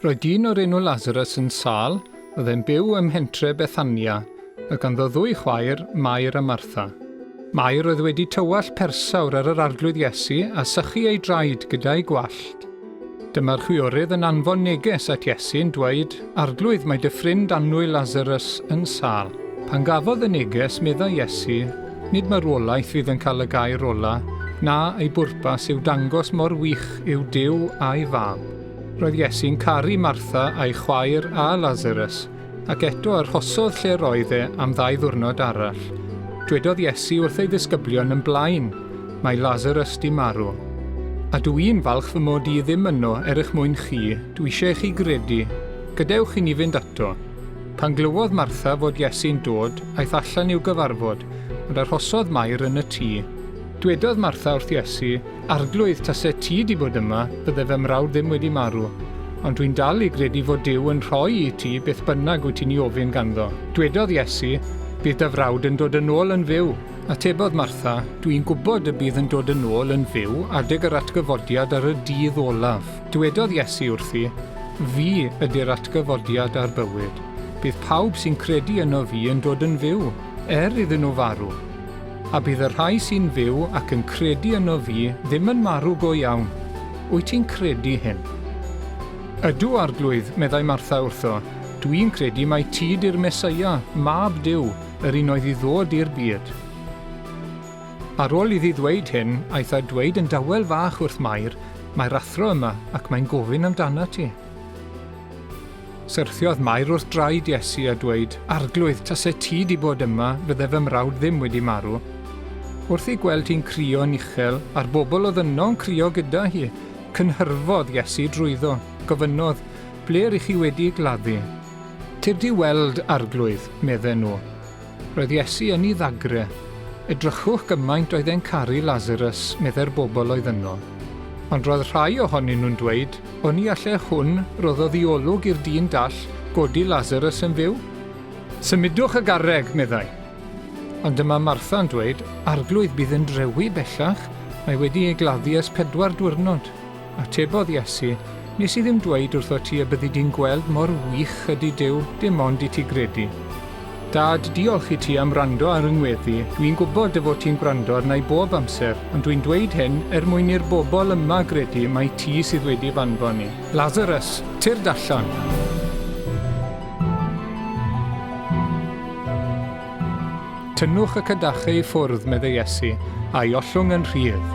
Roedd dyn o'r enw Lazarus yn sâl, oedd e'n byw ym mhentre Bethania, oedd ganddo ddwy chwaer, Mair a Martha. Mair oedd wedi tywallt persawr ar yr Arglwydd Iesu a sychu ei draed gyda'i gwallt. Dyma'r chwiorydd yn anfon neges at Iesu yn dweud, Arglwydd, mae dy ffrind annwyl Lasarus yn sâl. Pan gafodd y neges, meddai Iesu, Nid marwolaeth fydd yn cael y gair ola, na, ei bwrpas yw dangos mor wych yw Duw a'i Fab. Roedd Iesu'n caru Martha a'i chwaer a Lasarus, ac eto arhosodd lle roedd e am ddau ddiwrnod arall. Dwedodd Iesu wrth ei ddisgyblion yn blaen, Mae Lasarus di marw. A dw i'n falch fy mod i ddim yno er eich mwyn chi, Dw eisiau chi gredu. Gadewch i ni fynd ato. Pan glywodd Martha fod Iesu'n dod, aeth allan i'w gyfarfod, ond arhosodd Mair yn y tŷ. Dwedodd Martha wrth Iesu, Arglwydd, tase ti 'di bod yma, bydde fy mrawd ddim wedi marw. Ond dwi'n dal i gredu fod Duw yn rhoi i ti beth bynnag wyt ti'n 'i ofyn ganddo. Dwedodd Iesu, Bydd dy frawd yn dod yn ôl yn fyw. Atebodd Martha, Dw i'n gwybod y bydd yn dod yn ôl yn fyw adeg yr atgyfodiad ar y dydd olaf. Dywedodd Iesu wrthi, Fi ydy'r atgyfodiad a'r bywyd. Bydd pawb sy'n credu yno fi yn dod yn fyw, er iddyn nhw farw. A bydd y rhai sy'n fyw ac yn credu yno fi ddim yn marw go iawn. Wyt ti'n credu hyn? Ydw, Arglwydd, meddai Martha wrtho, dwi'n credu mai ti di'r Meseia, Mab Duw, yr un oedd i ddod i'r byd. Ar ôl iddi ddweud hyn, aeth a dweud yn dawel fach wrth Mair, Mae'r athro yma ac mae'n gofyn amdanat ti. Syrthiodd Mair wrth draed Iesu a dweud, Arglwydd, tase ti di bod yma, fydde fy mrawd ddim wedi marw. Wrth ei gweld hi'n crio'n uchel, a'r bobl oedd yno'n crio gyda hi, cynhyrfodd Iesu drwyddo, gofynnodd, Ble r'ych chi wedi gladdu? Tir di weld, Arglwydd, medden nhw. Roedd Iesu yn 'i ddagre. Edrychwch gymaint oedd e'n caru Lasarus, meddai'r bobl oedd yno. Ond roedd rhai ohonyn nhw'n dweud, Oni alle hwn, roddodd i olwg i'r dyn dall, godi Lasarus yn fyw? Symudwch y garreg, meddai. Ond dyma Martha'n dweud, Arglwydd, bydd yn drewi bellach, mae wedi ei gladdu ers pedwar diwrnod. Atebodd Iesu, Nes i ddim dweud wrthot ti y byddi di'n gweld mor wych ydy Duw, dim ond i ti gredu. Dad, diolch i ti am wrando ar yng ngweddi, dw i'n gwybod dy fod ti'n gwrando arna i bob amser, ond dw i'n dweud hyn er mwyn i'r bobl yma gredu mai ti sydd wedi f'anfon i. Lazarus, tyrd allan! Tynnwch y cadachau i ffwrdd, medde Iesu, a'i ollwng yn rhydd.